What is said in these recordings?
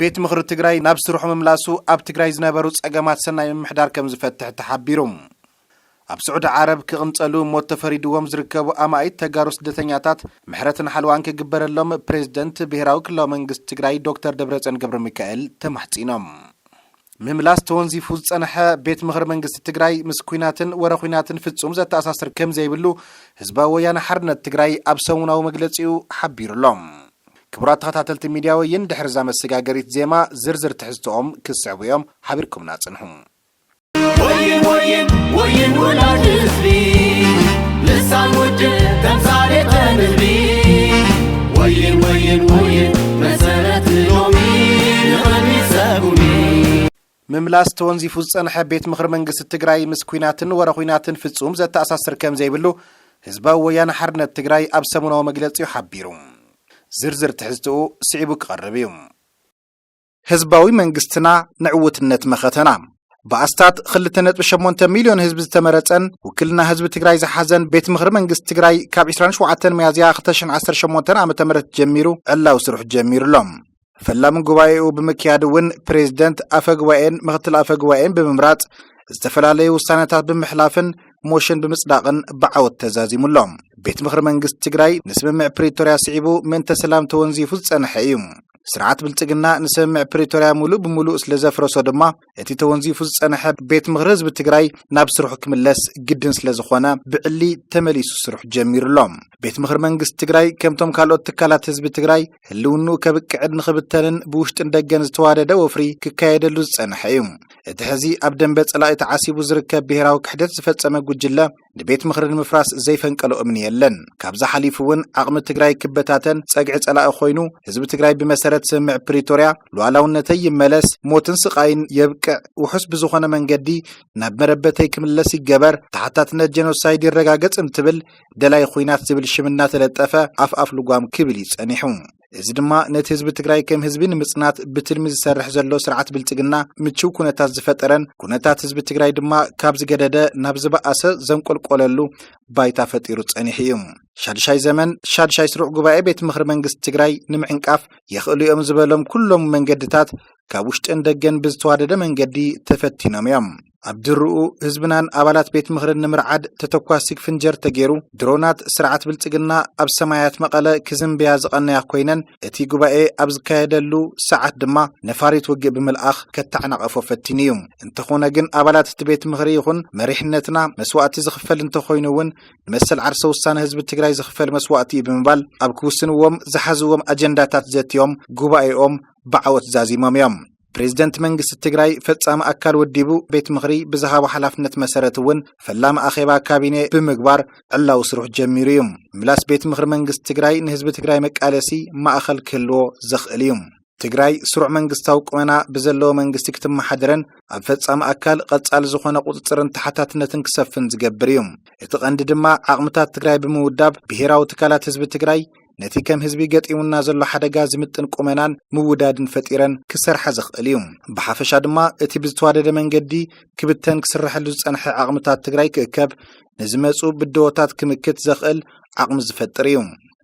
ቤት ምኽሪ ትግራይ ናብ ስርሑ ምምላሱ ኣብ ትግራይ ዝነበሩ ፀገማት ሰናይ ምምሕዳር ከምዝፈትሕ ተሓቢሩ። ኣብ ስዑዲ ዓረብ ክቕንፀሉ ሞት ተፈሪድዎም ዝርከቡ ኣማኢት ተጋሩ ስደተኛታት ምሕረትን ሓለዋን ክግበረሎም ፕሬዝደንት ብሄራዊ ክልላዊ መንግስቲ ትግራይ ዶክተር ደብረፅዮን ገብረሚካኤል ተማሕፂኖም። ምምላስ ተወንዚፉ ዝፀነሐ ቤት ምኽሪ መንግስቲ ትግራይ ምስ ኲናትን ወረ ዂናትን ፍፁም ዘተኣሳስር ከምዘይብሉ ህዝባዊ ወያነ ሓርነት ትግራይ ኣብ ሰሙናዊ መግለፂኡ ሓቢሩ ኣሎ። ክቡራት ተኸታተልቲ ሚድያ ወይን ድሕሪ እዛ መሰጋገሪት ዜማ ዝርዝር ትሕዝቶኦም ክስዕቡ እዮም ሓቢርኩምና ፅንሑ። ወይን ወይን ወይን ውላድ ህዝቢ ልሳን ውድብ ተምሳሌት ተንህቢ ወይን ወይን ወይን መሰረት ሎሚ ንቕድሚት ሰጉሚ ምምላስ ተወንዚፉ ዝጸንሐ ቤት ምኽሪ መንግስቲ ትግራይ ምስ ኲናትን ወረ ዂናትን ፍጹም ዘተኣሳስር ከም ዘይብሉ ህዝባዊ ወያነ ሓርነት ትግራይ ኣብ ሰሙናዊ መግለጺኡ ሓቢሩ። ዝርዝር ትሕዝትኡ ስዒቡ ክቐርብ እዩ። ህዝባዊ መንግስትና ንዕውትነት መኸተና ብኣስታት 2.8 ሚልዮን ህዝቢ ዝተመረፀን ውክልና ህዝቢ ትግራይ ዝሓዘን ቤት ምኽሪ መንግስቲ ትግራይ ካብ 27 ሚያዝያ 2018 ዓ ም ጀሚሩ ዕላዊ ስርሑ ጀሚሩ ኣሎ ፈላሚ ጉባኤኡ ብምክያድ እውን ፕሬዝደንት ኣፈ ጉባኤን ምክትል ኣፈ ጉባኤን ብምምራፅ ዝተፈላለዩ ውሳነታት ብምሕላፍን ሞሽን ብምፅዳቕን ብዓወት ተዛዚሙ ኣሎ ቤት ምኽሪ መንግስቲ ትግራይ ንስምምዕ ፕሪቶርያ ስዒቡ ምእንተ ሰላም ተወንዚፉ ዝፀንሐ እዩ ስርዓት ብልፅግና ንስምምዕ ፕሪቶርያ ሙሉእ ብሙሉእ ስለ ዘፍረሶ ድማ እቲ ተወንዚፉ ዝፀንሐ ቤት ምኽሪ ህዝቢ ትግራይ ናብ ስርሑ ክምለስ ግድን ስለ ዝኾነ ብዕሊ ተመሊሱ ስርሑ ጀሚሩ ኣሎ። ቤት ምኽሪ መንግስቲ ትግራይ ከምቶም ካልኦት ትካላት ህዝቢ ትግራይ ህልውንኡ ከብቅዕን ንኽብተንን ብውሽጥን ደገን ዝተዋደደ ወፍሪ ክካየደሉ ዝፀንሐ እዩ። እቲ ሕዚ ኣብ ደንበ ፀላኢ ተዓሲቡ ዝርከብ ብሄራዊ ክሕደት ዝፈፀመ ጉጅለ ንቤት ምኽሪ ንምፍራስ ዘይፈንቀሎ እምኒ የለን። ካብዚ ሓሊፉ እውን ዓቕሚ ትግራይ ክበታተን ፀግዒ ፀላኢ ኮይኑ ህዝቢ ትግራይ ብመሰረት ስምምዕ ፕሪቶርያ ሉኣላውነተይ ይመለስ፣ ሞትን ስቓይን የብቅዕ፣ ውሑስ ብዝኾነ መንገዲ ናብ መረበተይ ክምለስ ይገበር፣ ተሓታትነት ጀኖሳይድ ይረጋገፅ እንትብል ደላይ ኹናት ዝብል ሽም እናተለጠፈ ኣፍ ኣፍ ልጓም ክብል እዩ ፀኒሑ። እዚ ድማ ነቲ ህዝቢ ትግራይ ከም ህዝቢ ንምፅናት ብትልሚ ዝሰርሕ ዘሎ ስርዓት ብልፅግና ምችው ኩነታት ዝፈጠረን ኩነታት ህዝቢ ትግራይ ድማ ካብ ዝገደደ ናብ ዝበኣሰ ዘንቆልቆለሉ ባይታ ፈጢሩ ፀኒሑ እዩ። ሻድሻይ ዘመን ሻድሻይ ስሩዕ ጉባኤ ቤት ምኽሪ መንግስቲ ትግራይ ንምዕንቃፍ የኽእሉ እዮም ዝበሎም ኩሎም መንገድታት ካብ ውሽጥን ደገን ብዝተዋደደ መንገዲ ተፈቲኖም እዮም። ኣብ ድርኡ ህዝብናን ኣባላት ቤት ምኽርን ንምርዓድ ተተኳሲ ፍንጀር ተገይሩ ድሮናት ስርዓት ብልፅግና ኣብ ሰማያት መቐለ ክዝንብያ ዝቐነያ ኮይነን እቲ ጉባኤ ኣብ ዝካየደሉ ሰዓት ድማ ነፋሪት ውግእ ብምልኣኽ ከተዓናቐፎ ፈቲኑ እዩ። እንተኾነ ግን ኣባላት እቲ ቤት ምኽሪ ይኹን መሪሕነትና መስዋእቲ ዝኽፈል እንተኾይኑ እውን ንመሰል ዓርሰ ውሳነ ህዝቢ ትግራይ ዝኽፈል መስዋእቲ እዩ ብምባል ኣብ ክውስንዎም ዝሓዝዎም ኣጀንዳታት ዘትዮም ጉባኤኦም ብዓወት ዛዚሞም እዮም። ፕሬዚደንት መንግስቲ ትግራይ ፈፃሚ ኣካል ወዲቡ ቤት ምኽሪ ብዝሃቦ ሓላፍነት መሰረት እውን ፈላሚ ኣኼባ ካቢኔ ብምግባር ዕላዊ ስርሑ ጀሚሩ እዩ ምላስ ቤት ምኽሪ መንግስቲ ትግራይ ንህዝቢ ትግራይ መቃለሲ ማእኸል ክህልዎ ዘኽእል እዩ ትግራይ ስሩዕ መንግስታዊ ቁመና ብዘለዎ መንግስቲ ክትመሓደረን ኣብ ፈፃሚ ኣካል ቐፃሊ ዝኾነ ቁፅፅርን ተሓታትነትን ክሰፍን ዝገብር እዩ እቲ ቐንዲ ድማ ዓቕምታት ትግራይ ብምውዳብ ብሄራዊ ትካላት ህዝቢ ትግራይ ነቲ ከም ህዝቢ ገጢሙና ዘሎ ሓደጋ ዝምጥን ቁመናን ምውዳድን ፈጢረን ክሰርሓ ዘኽእል እዩ። ብሓፈሻ ድማ እቲ ብዝተዋደደ መንገዲ ክብተን ክስረሐሉ ዝፀንሐ ዓቕምታት ትግራይ ክእከብ ንዝመፁ ብደሆታት ክምክት ዘኽእል ዓቕሚ ዝፈጥር እዩ።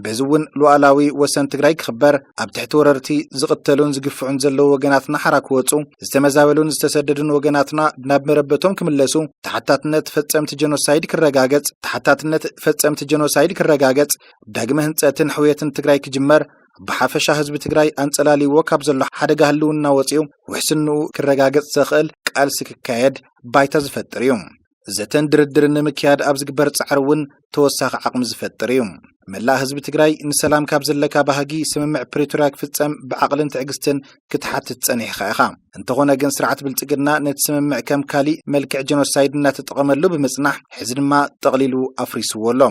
በዚ እውን ሉኣላዊ ወሰን ትግራይ ክኽበር፣ ኣብ ትሕቲ ወረርቲ ዝቕተሉን ዝግፍዑን ዘለዉ ወገናትና ሓራ ክወፁ፣ ዝተመዛበሉን ዝተሰደዱን ወገናትና ናብ መረበቶም ክምለሱ፣ ተሓታትነት ፈፀምቲ ጀኖሳይድ ክረጋገፅ ተሓታትነት ፈፀምቲ ጀኖሳይድ ክረጋገፅ፣ ዳግመ ህንፀትን ሕውየትን ትግራይ ክጅመር ብሓፈሻ ህዝቢ ትግራይ ኣንፀላልይዎ ካብ ዘሎ ሓደጋ ህልውና ወፂኡ ውሕስንኡ ክረጋገፅ ዘኽእል ቃልሲ ክካየድ ባይታ ዝፈጥር እዩ። ዘተን ድርድርን ንምክያድ ኣብ ዝግበር ፃዕሪ እውን ተወሳኺ ዓቕሚ ዝፈጥር እዩ። መላእ ህዝቢ ትግራይ ንሰላም ካብ ዘለካ ባህጊ ስምምዕ ፕሪቶርያ ክፍፀም ብዓቕልን ትዕግስትን ክትሓትት ፀኒሕኻ ኢኻ። እንተኾነ ግን ስርዓት ብልፅግና ነቲ ስምምዕ ከም ካሊእ መልክዕ ጀኖሳይድ እናተጠቐመሉ ብምፅናሕ ሕዚ ድማ ጠቕሊሉ ኣፍሪስዎ ኣሎ።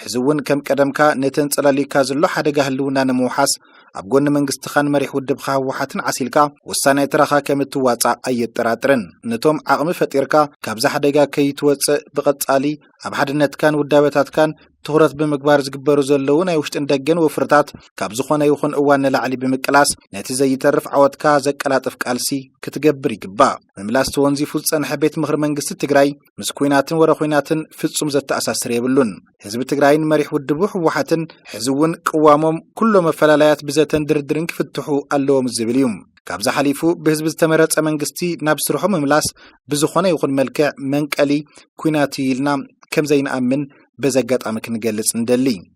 ሕዚ እውን ከም ቀደምካ ነቲ ኣንጸላልዩካ ዘሎ ሓደጋ ህልውና ንምውሓስ ኣብ ጎኒ መንግስትኻን መሪሕ ውድብኻ ህወሓትን ዓሲልካ ወሳናይ ተራኻ ከም እትዋጻእ ኣየጠራጥርን። ነቶም ዓቕሚ ፈጢርካ ካብዚ ሓደጋ ከይትወጽእ ብቐጻሊ ኣብ ሓድነትካን ውዳበታትካን ትኹረት ብምግባር ዝግበሩ ዘለዉ ናይ ውሽጥን ደገን ወፍርታት ካብ ዝኾነ ይኹን እዋን ንላዕሊ ብምቅላስ ነቲ ዘይተርፍ ዓወትካ ዘቀላጥፍ ቃልሲ ክትገብር ይግባእ። ምምላስ ተወንዚፉ ዝጸንሐ ቤት ምኽሪ መንግስቲ ትግራይ ምስ ኩናትን ወረ ኩናትን ፍፁም ዘተኣሳስር የብሉን። ህዝቢ ትግራይን መሪሕ ውድቡ ህወሓትን ሕዚ እውን ቅዋሞም ኩሎ መፈላላያት ብዘተን ድርድርን ክፍትሑ ኣለዎም ዝብል እዩ። ካብዚ ሓሊፉ ብህዝቢ ዝተመረፀ መንግስቲ ናብ ስርሑ ምምላስ ብዝኾነ ይኹን መልክዕ መንቀሊ ኩናት እዩ ኢልና ከምዘይንኣምን በዚ ኣጋጣሚ ክንገልፅ ንደሊ።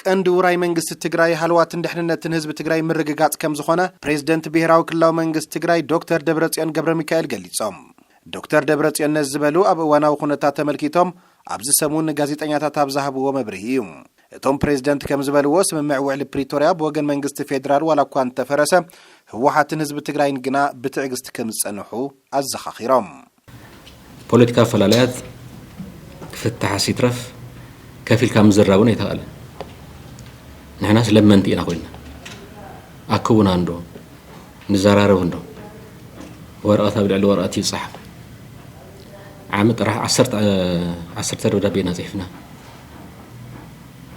ቀንዲ ውራይ መንግስቲ ትግራይ ሃለዋትን ድሕንነትን ህዝቢ ትግራይ ምርግጋፅ ከምዝኾነ ፕሬዝደንት ብሄራዊ ክልላዊ መንግስቲ ትግራይ ዶክተር ደብረፅዮን ገብረሚካኤል ገሊፆም። ዶክተር ደብረፅዮን ነዚ ዝበሉ ኣብ እዋናዊ ኩነታት ተመልኪቶም ኣብዚ ሰሙን ንጋዜጠኛታት ኣብ ዝሃብዎ መብርሂ እዩ። እቶም ፕሬዝደንት ከምዝበልዎ ስምምዕ ውዕሊ ፕሪቶርያ ብወገን መንግስቲ ፌዴራል ዋላ እኳ እንተፈረሰ ህወሓትን ህዝቢ ትግራይን ግና ብትዕግስቲ ከምዝፀንሑ ኣዘኻኺሮም። ፖለቲካዊ ኣፈላላያት ክፍታሕስ ይትረፍ ከፍ ኢልካ ምዝራብ እውን ኣይተኽኣለን። ንሕናስ ለመንቲ ኢና ኮይና ኣክቡና እንዶ ንዘራረብ እንዶ ወረቐት ኣብ ልዕሊ ወረቐት ይፀሓፍ ዓመት ጥራሕ ዓሰርተ ደብዳቤ ኢና ፅሒፍና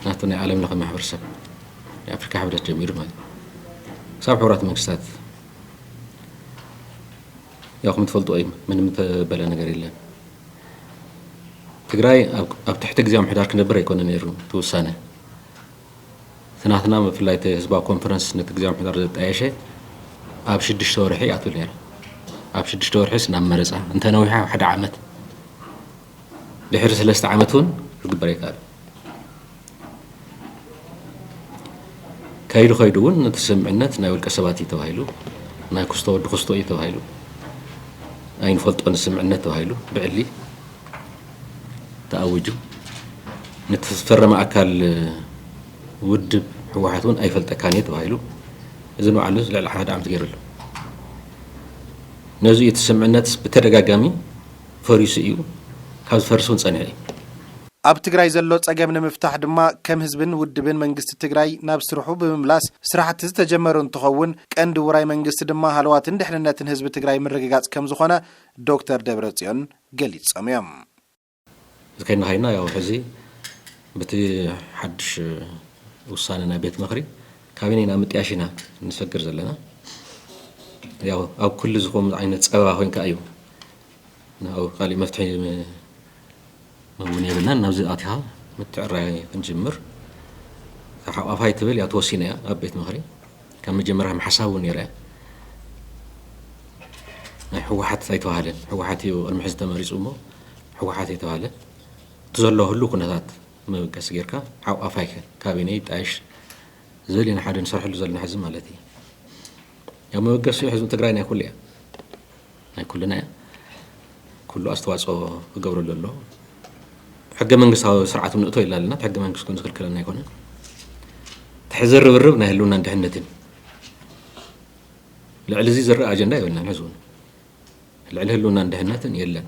ናቱ ናይ ዓለም ለኸ ማሕበረሰብ ናይ ኣፍሪካ ሕብረት ጀሚሩ ማለት ክሳብ ሕቡራት መንግስታት ያው ከምትፈልጥዎ እዩ ምንም እተበለ ነገር የለን ትግራይ ኣብ ትሕቲ ግዜ ምሕዳር ክነብር ኣይኮነ ነይሩ እቲ ውሳነ እቲ ናትና ብፍላይ እቲ ህዝባዊ ኮንፈረንስ ነቲ ግዜ ምሕዳር ዘጣየሸ ኣብ ሽዱሽተ ወርሒ ኣትብል ነይራ ኣብ ሽዱሽተ ወርሒስ ናብ መረፃ እንተነዊሓ ሓደ ዓመት ድሕሪ ሰለስተ ዓመት እውን ክግበር ኣይከኣለን። ከይዱ ከይዱ እውን እቲ ስምምዕነት ናይ ውልቀ ሰባት እዩ ተባሂሉ ናይ ክስቶ ወዲ ክስቶ እዩ ተባሂሉ ኣይንፈልጦን ስምምዕነት ተባሂሉ ብዕሊ ተኣውጁ ነቲ ዝፈረመ ኣካል ውድብ ህወሓት እውን ኣይፈልጠካን እየ ተባሂሉ እዚ ንባዕሉ ልዕሊ ሓደ ዓመት ገይሩ ኣሎ ነዚ እቲ ስምምዕነት ብተደጋጋሚ ፈሪሱ እዩ ካብ ዝፈርስ እውን ፀኒሑ እዩ። ኣብ ትግራይ ዘሎ ፀገም ንምፍታሕ ድማ ከም ህዝብን ውድብን መንግስቲ ትግራይ ናብ ስርሑ ብምምላስ ስራሕቲ ዝተጀመሩ እንትኸውን ቀንዲ ውራይ መንግስቲ ድማ ሃለዋትን ድሕንነትን ህዝቢ ትግራይ ምርግጋፅ ከምዝኾነ ዶክተር ደብረፅዮን ገሊፆም እዮም። እዚ ከይድና ከይድና ያው ሕዚ በቲ ሓዱሽ ውሳነ ናይ ቤት ምኽሪ ካቢኔ ናብ ምጥያሽ ኢና ንሰግር ዘለና። ያው ኣብ ኩሉ ዝኾም ዓይነት ፀበባ ኮይንካ እዩ ካሊእ መፍትሒ ውን የብልናን ናብዚ ኣቲኻ ምትዕራይ ክንጅምር ካብ ሓቋፋይ ትብል እያ ተወሲነ እያ ኣብ ቤት ምክሪ ካብ መጀመርያ ሓሳብ ውን ነይራ ናይ ሕወሓት ኣይተባህለን ሕወሓት እዩ ቅድሚ ሕዚ ተመሪፁ እሞ ሕወሓት ኣይተባህለ እቲ ዘሎ ህሉ ኩነታት መበገሲ ጌርካ ሓቋፋይ ካቢነ ይጣየሽ ዝብል ኢና ሓደ ንሰርሐሉ ዘለና ሕዚ ማለት እዩ ያው መበገሲኡ ሕዝቢ ትግራይ ናይ ኩሉ እያ ናይ ኩልና እያ ኩሉ ኣስተዋፅኦ ክገብረሉ ኣለዎ ሕገ መንግስታዊ ስርዓት እውን ንእቶ ኢልና ኣለና እቲ ሕገ መንግስቲ እውን ዝክልክለና ኣይኮነን እቲ ሕዚ ርብርብ ናይ ህልውናን ድሕነትን እዩ ልዕሊ እዚ ዝረኣ ኣጀንዳ የብልናን ሕዚ እውን ልዕሊ ህልውናን ድሕነትን የለን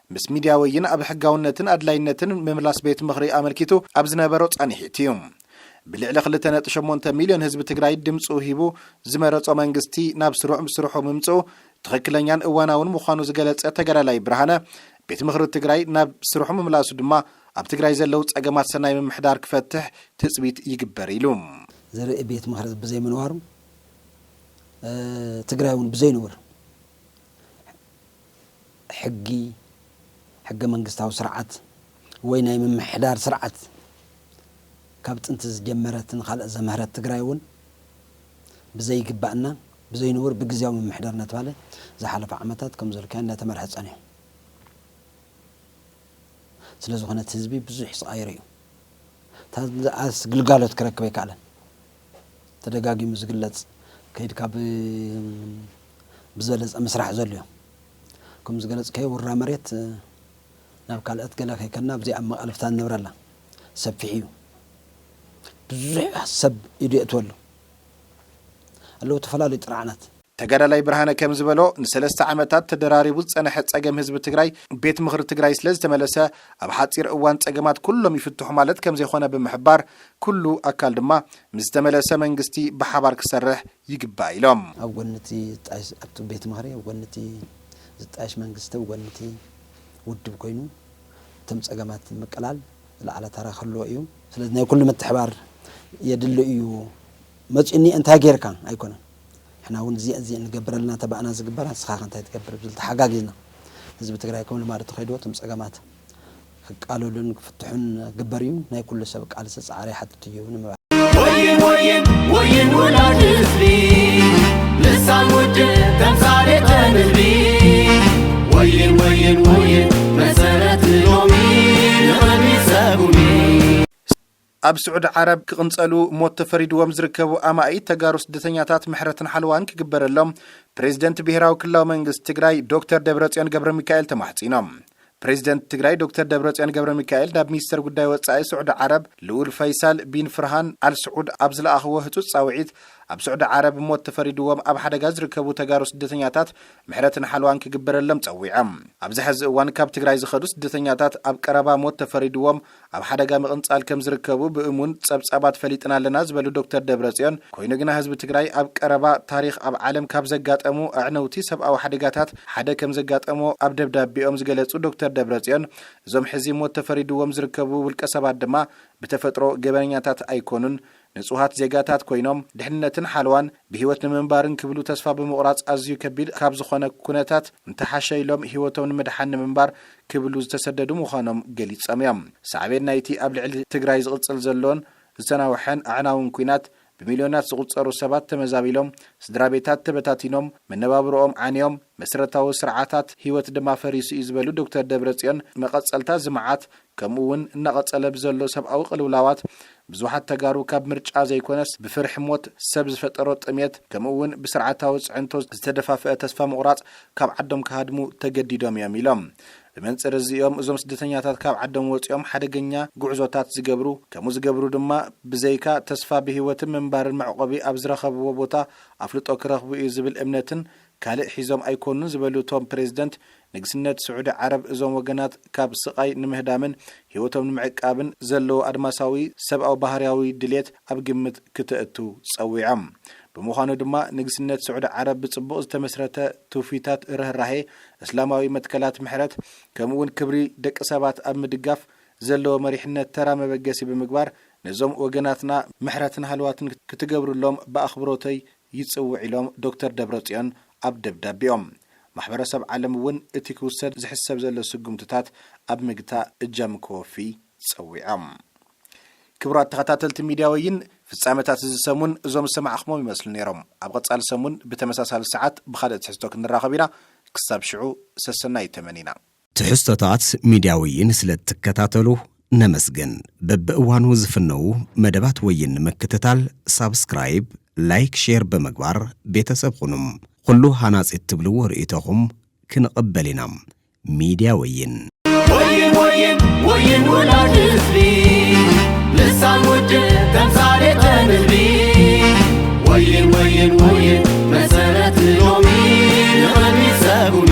ምስ ሚድያ ወይን ኣብ ሕጋውነትን ኣድላይነትን ምምላስ ቤት ምኽሪ ኣመልኪቱ ኣብ ዝነበሮ ፃኒሒት እዩ ብልዕሊ ክልተ ነጥቢ ሸሞንተ ሚልዮን ህዝቢ ትግራይ ድምፁ ሂቡ ዝመረፆ መንግስቲ ናብ ስሩዕ ስርሑ ምምፅኡ ትኽክለኛን እዋናውን ምዃኑ ዝገለፀ ተጋዳላይ ብርሃነ ቤት ምኽሪ ትግራይ ናብ ስርሑ ምምላሱ ድማ ኣብ ትግራይ ዘለው ፀገማት ሰናይ ምምሕዳር ክፈትሕ ትፅቢት ይግበር ኢሉ። ዝርኢ ቤት ምኽሪ ብዘይምንባሩ ትግራይ እውን ብዘይንቡር ሕጊ፣ ሕገ መንግስታዊ ስርዓት ወይ ናይ ምምሕዳር ስርዓት ካብ ጥንቲ ዝጀመረትን ንኻልኦት ዘምሀረት ትግራይ እውን ብዘይግባእና ብዘይንቡር ብግዝያዊ ምምሕዳር እናተብሃለ ዝሓለፉ ዓመታት ከምዘልካዮ እናተመርሐ ፀኒሑ ስለዝኾነ እቲ ህዝቢ ብዙሕ ስቓይ ሪኡ እታ ግልጋሎት ክረክብ ኣይከኣለን። ተደጋጊሙ ዝግለጽ ከይድካ ብዘለጸ ምስራሕ ዘልዮ ክም ዝገለጽካዮ ውራ መሬት ናብ ካልእት ገለ ከይከድና ኣብዚኣ ኣብ መቓልብታ ንነብረላ ሰፊሕ ኢዩ ብዙሕ ሰብ ኢዱ የእትወሉ ኣለው ተፈላለዩ ጥርዓናት ተጋዳላይ ብርሃነ ከምዝበሎ ንሰለስተ ዓመታት ተደራሪቡ ዝፀነሐ ፀገም ህዝቢ ትግራይ ቤት ምኽሪ ትግራይ ስለዝተመለሰ ኣብ ሓፂር እዋን ፀገማት ኩሎም ይፍትሑ ማለት ከምዘይኾነ ብምሕባር ኩሉ ኣካል ድማ ምስ ዝተመለሰ መንግስቲ ብሓባር ክሰርሕ ይግባእ ኢሎም። ኣብ ጎኒ እቲ ዝጣየሽ ኣብቲ ቤት ምኽሪ ኣብ ጎኒ እቲ ዝጣየሽ መንግስቲ ኣብ ጎኒ እቲ ውድብ ኮይኑ እቶም ፀገማት ንምቅላል ዝለዓለ ተራ ክህልዎ እዩ። ስለዚ ናይ ኩሉ ምትሕባር የድሊ እዩ። መፂኡ እኒኤ እንታይ ገይርካ ኣይኮነን። ንሕና እውን እዚኣ እዚኣ ንገብር ኣለና ተባእና ዝግበራ ንስኻ ከ እንታይ ትገብር ብዝብል ተሓጋጊዝና ህዝቢ ትግራይ ከም ልማዱ ተኸይድዎ እቶም ፀገማት ክቃለሉን ክፍትሑን ግበር እዩ። ናይ ኩሉ ሰብ ቃልሲ ፃዕሪ ይሓትት እዩ ንምባል። ወይን ወይን ወይን ውላድ ህዝቢ ልሳን ውድብ ተምሳሌት ንህቢ ወይን ወይን ወይን መሰረት ሎሚ ንቕድሚት ሰጉሚ ኣብ ስዑዲ ዓረብ ክቕንፀሉ ሞት ተፈሪድዎም ዝርከቡ ኣማኢት ተጋሩ ስደተኛታት ምሕረትን ሓለዋን ክግበረሎም ፕሬዚደንት ብሄራዊ ክልላዊ መንግስቲ ትግራይ ዶክተር ደብረፅዮን ገብረሚካኤል ተማሕፂኖም። ፕሬዚደንት ትግራይ ዶክተር ደብረፅዮን ገብረሚካኤል ናብ ሚኒስተር ጉዳይ ወፃኢ ስዑዲ ዓረብ ልኡል ፈይሳል ቢን ፍርሃን ኣል ስዑድ ኣብ ዝለኣኽዎ ህፁፅ ፃውዒት ኣብ ስዑዲ ዓረብ ሞት ተፈሪድዎም ኣብ ሓደጋ ዝርከቡ ተጋሩ ስደተኛታት ምሕረትን ሓለዋን ክግበረሎም ፀዊዖም። ኣብዚ ሐዚ እዋን ካብ ትግራይ ዝኸዱ ስደተኛታት ኣብ ቀረባ ሞት ተፈሪድዎም ኣብ ሓደጋ ምቕንጻል ከም ዝርከቡ ብእሙን ጸብጻባት ፈሊጥና ኣለና ዝበሉ ዶክተር ደብረጽዮን፣ ኮይኑ ግና ህዝቢ ትግራይ ኣብ ቀረባ ታሪኽ ኣብ ዓለም ካብ ዘጋጠሙ ኣዕነውቲ ሰብኣዊ ሓደጋታት ሓደ ከም ዘጋጠሞ ኣብ ደብዳቤኦም ዝገለጹ ዶክተር ደብረጽዮን፣ እዞም ሕዚ ሞት ተፈሪድዎም ዝርከቡ ውልቀሰባት ድማ ብተፈጥሮ ገበነኛታት ኣይኮኑን፣ ንጹሃት ዜጋታት ኮይኖም ድሕንነትን ሓለዋን ብህይወት ንምንባርን ክብሉ ተስፋ ብምቑራጽ ኣዝዩ ከቢድ ካብ ዝኾነ ኩነታት እንተሓሸ ኢሎም ህይወቶም ንምድሓን ንምንባር ክብሉ ዝተሰደዱ ምዃኖም ገሊጾም እዮም። ሳዕቤን ናይቲ ኣብ ልዕሊ ትግራይ ዝቕጽል ዘሎን ዝተናውሐን ኣዕናውን ኲናት ብሚልዮናት ዝቑጸሩ ሰባት ተመዛቢሎም፣ ስድራቤታት ተበታቲኖም፣ መነባብሮኦም ዓንዮም፣ መሰረታዊ ስርዓታት ህይወት ድማ ፈሪሱ እዩ ዝበሉ ዶክተር ደብረጽዮን መቐጸልታ እዚ መዓት ከምኡ እውን እናቐፀለ ብዘሎ ሰብኣዊ ቅልውላዋት ብዙሓት ተጋሩ ካብ ምርጫ ዘይኮነስ ብፍርሒ ሞት፣ ሰብ ዝፈጠሮ ጥምየት ከምኡ እውን ብስርዓታዊ ፅዕንቶ ዝተደፋፍአ ተስፋ ምቑራፅ ካብ ዓዶም ክሃድሙ ተገዲዶም እዮም ኢሎም። ብመንፅር እዚ እዮም እዞም ስደተኛታት ካብ ዓዶም ወፂኦም ሓደገኛ ጉዕዞታት ዝገብሩ። ከምኡ ዝገብሩ ድማ ብዘይካ ተስፋ ብህይወትን ምንባርን መዕቖቢ ኣብ ዝረኸብዎ ቦታ ኣፍልጦ ክረኽቡ እዩ ዝብል እምነትን ካልእ ሒዞም ኣይኮኑን ዝበሉ እቶም ፕሬዚደንት ንግስነት ስዑዲ ዓረብ እዞም ወገናት ካብ ስቓይ ንምህዳምን ህይወቶም ንምዕቃብን ዘለዎ ኣድማሳዊ ሰብኣዊ ባህርያዊ ድሌት ኣብ ግምት ክተእቱ ጸዊዖም። ብምዃኑ ድማ ንግስነት ስዑዲ ዓረብ ብጽቡቕ ዝተመስረተ ትውፊታት ርህራሄ፣ እስላማዊ መትከላት ምሕረት፣ ከምኡ'ውን ክብሪ ደቂ ሰባት ኣብ ምድጋፍ ዘለዎ መሪሕነት ተራ መበገሲ ብምግባር ነዞም ወገናትና ምሕረትን ሃለዋትን ክትገብርሎም ብኣኽብሮተይ ይጽውዕ ኢሎም ዶክተር ደብረጽዮን ኣብ ደብዳቤኦም። ማሕበረሰብ ዓለም እውን እቲ ክውሰድ ዝሕሰብ ዘሎ ስጉምትታት ኣብ ምግታእ እጃሙ ከወፊ ጸዊዖም። ክቡራት ተኸታተልቲ ሚድያ ወይን፣ ፍጻመታት እዚ ሰሙን እዞም ዝሰማዕኹምዎም ይመስሉ ነይሮም። ኣብ ቐጻሊ ሰሙን ብተመሳሳሊ ሰዓት ብኻልእ ትሕዝቶ ክንራኸብ ኢና። ክሳብ ሽዑ ሰሰናዩ ተመኒና። ትሕዝቶታት ሚድያ ወይን ስለ እትከታተሉ ነመስግን። በብእዋኑ ዝፍነዉ መደባት ወይን ንምክትታል ሳብስክራይብ፣ ላይክ፣ ሼር ብምግባር ቤተሰብ ኹኑ። ኹሉ ሃናፂ እትብልዎ ርእይቶኹም ክንቕበል ኢና። ሚድያ ወይን! ወይን ወይን ወይን ውላድ ህዝቢ ልሳን ውድብ ተምሳሌተ ንህቢ ወይን ወይን ወይን መሰረት ሎሚ ንቕድሚት ሰጉሚ